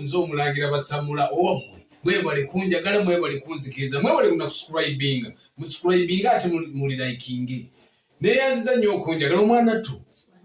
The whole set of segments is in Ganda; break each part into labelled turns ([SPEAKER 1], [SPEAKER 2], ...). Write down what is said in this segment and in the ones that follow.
[SPEAKER 1] nze omulangira basamula omwe mwebale kunjagala mwebale kunzikiriza mwebale kuna kuscribinga muscribinga ate muli likinge neyanziza nnyo okunjagala omwana tu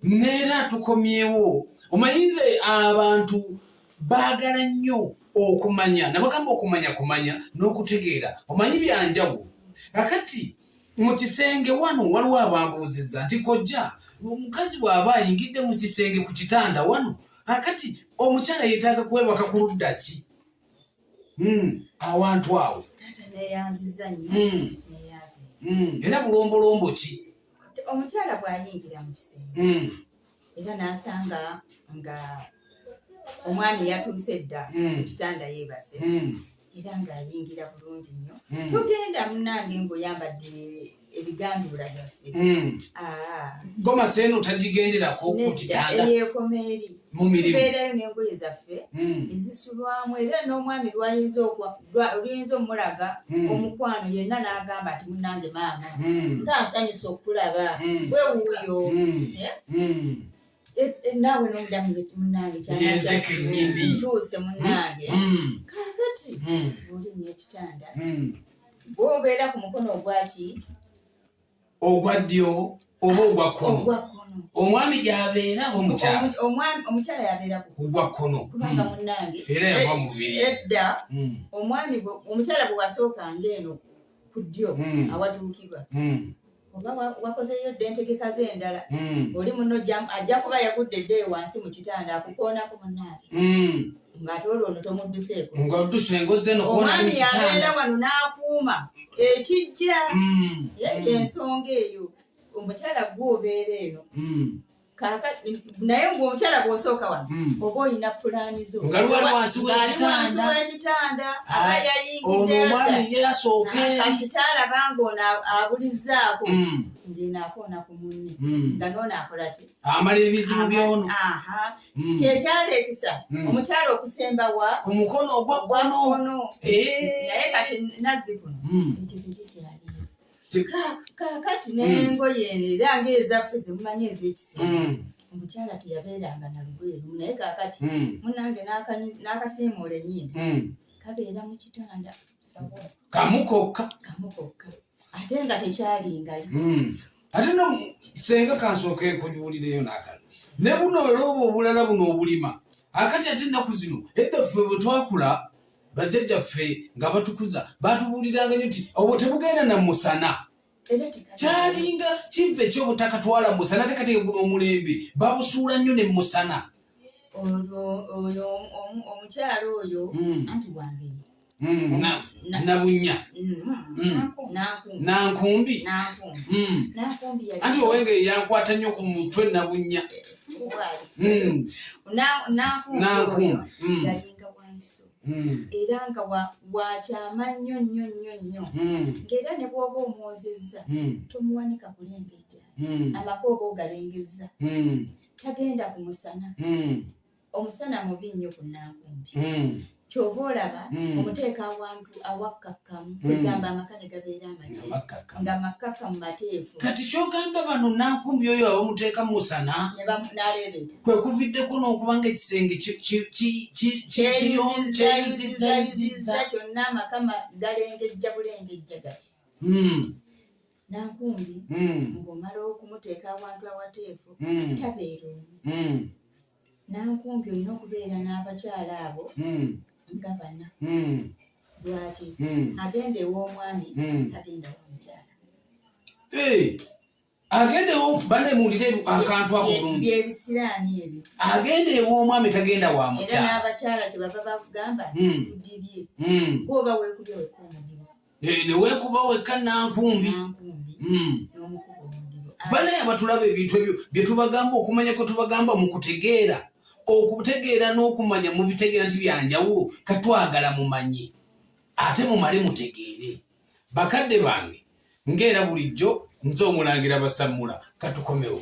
[SPEAKER 1] neera tukomyewo omanyinze abantu baagala nnyo okumanya nabagamba okumanya kumanya n'okutegeera omanyi byanjawulo kakati mu kisenge wano waliwo abambuuzizza nti kojja omukazi bw'aba ayingidde mu kisenge ku kitanda wano akati omukyala yeetaaga kwebaka ku ludda ki hmm, awantu awo hmm. Hmm. era bulombolombo ki omukyala
[SPEAKER 2] bw'ayingira mu kisenge era n'asanga nga omwami yatuuse dda hmm. kitanda yeebase hmm. era ng'ayingira bulungi nnyo hmm. tugenda munange ng'oyambadde ebigambibula byaffe ah.
[SPEAKER 1] goma seeno tagigenderako ku kitanda eyekomeeri
[SPEAKER 2] mumirimu tubeerayo n'engoye zaffe ezisulwamu era n'omwami lwayinza okwa luyinza omulaga hmm. omukwano yenna n'agamba nti munange maama hmm. nga nsanyusa okulaba hmm. gwe wuuyo eh, eh, naawe nomudamu munange kyatuuse munange kakati olinya ekitanda gwobeera ku mukono ogwaki
[SPEAKER 1] ogwa ddyo oba ogwa kkono omwami gyabeera oba omukyalaomukyala
[SPEAKER 2] yabeera ogwa kkono kubanga
[SPEAKER 1] hmm. munange
[SPEAKER 2] era yava
[SPEAKER 1] mubiedda hmm.
[SPEAKER 2] omwami omukyala bwe wasooka ngaeno ku ddyo hmm. awatuukibwa oba wakozeyo dda entegeka ze endala oli muno ajja kuba yagudde dde wansi mu kitanda akukoonako munange ng'ate olwo ono tomudduseeko ng'odduse ngozze no omwami yabeera wano n'akuuma ekijja mm. ensonga eyo omukyala gwe obeera eno mm. naye ngaomukyala gwosooka wano mm. oba olina pulaani zo nga lwali wansi
[SPEAKER 1] wekitanda
[SPEAKER 2] aba yayingiddeakasita alaba ngaono abulizaako ng'eno akoona ku munne nga noono akolaki amala ebizibu
[SPEAKER 1] byono Mm. kyekyaleetesa
[SPEAKER 2] mm. omukyalo okusemba wa ku mukono
[SPEAKER 1] ogwa kkono eh. naye
[SPEAKER 2] kati nazzi kuno mm. ekyo tekikyaliyo kakati nengoye era ngaezaffe zemumanyi ezekisemba omukyala teyabeeranga na lugoye lumu naye kakati munange n'akasiimuula enyiini kabeera mu kitanda kamu
[SPEAKER 1] kokka kamu kokka
[SPEAKER 2] ate nga tekyalingayo
[SPEAKER 1] hmm. ate no senga kansooka ekujuwulireyo nakala ne buno olwoba obulala buno obulima akati ate ennaku zino edda ffe bwe twakula bajjajja ffe nga batukuza batubuuliranga nyo nti obwo tebugenda na musana kyalinga kiva ekyobutakatwala musana tekateka guno omulembe babusuula nnyo ne musana
[SPEAKER 2] oyo omukyala oyo hmm. anti wange hmm,
[SPEAKER 1] nabunya hmm. nankumbi anti owenge yankwata nnyo ku mutwe nabunya nankumbi Hmm.
[SPEAKER 2] era nga wakyama nnyo nnyo nnyo nnyo hmm. ngaera ne bwoba omwozezza hmm. tomuwanika kulengejja amaka oba ogalengezza tagenda ku musana hmm. omusana mubi nnyo ku nankumbi hmm. kyova olaba hmm. omuteeka awantu awakkakkamu kwegamba amaka ne gabeera amate nga makkakkamu mateefu kati kyogamba
[SPEAKER 1] bano nankumbi oyo abamuteeka mu musana naleebeeta
[SPEAKER 2] kwe kuviddeko
[SPEAKER 1] n'okuba nga ekisenge kyeyuzizza kyonna amaka
[SPEAKER 2] galengejja bulengejja gati Nankumbi hmm. ng'omala okumuteeka awantu awateefu hmm. tabeera omu. Hmm. Nankumbi olina okubeera n'abakyala abo nga bana. Lwaki agenda ew'omwami agenda wamukyala.
[SPEAKER 1] Agenda bane muwulire akantu ako bulungi. Byebisiraani ebyo.
[SPEAKER 2] Agenda ew'omwami
[SPEAKER 1] tagenda wa mukyala. Era n'abakyala kyebava
[SPEAKER 2] bakugamba tudibye. Gwoba weekubye wekkuuma. eh, newekuba
[SPEAKER 1] wekka nankumbi hmm.
[SPEAKER 2] banaye abatulaba
[SPEAKER 1] ebintu ebyo byetubagamba okumanya kwetubagamba mukutegeera okutegeera n'okumanya mubitegeera nti byanjawulo katwagala mumanye ate mumale mutegeere bakadde bange ngaera bulijjo nze omulangira basammula katukomewo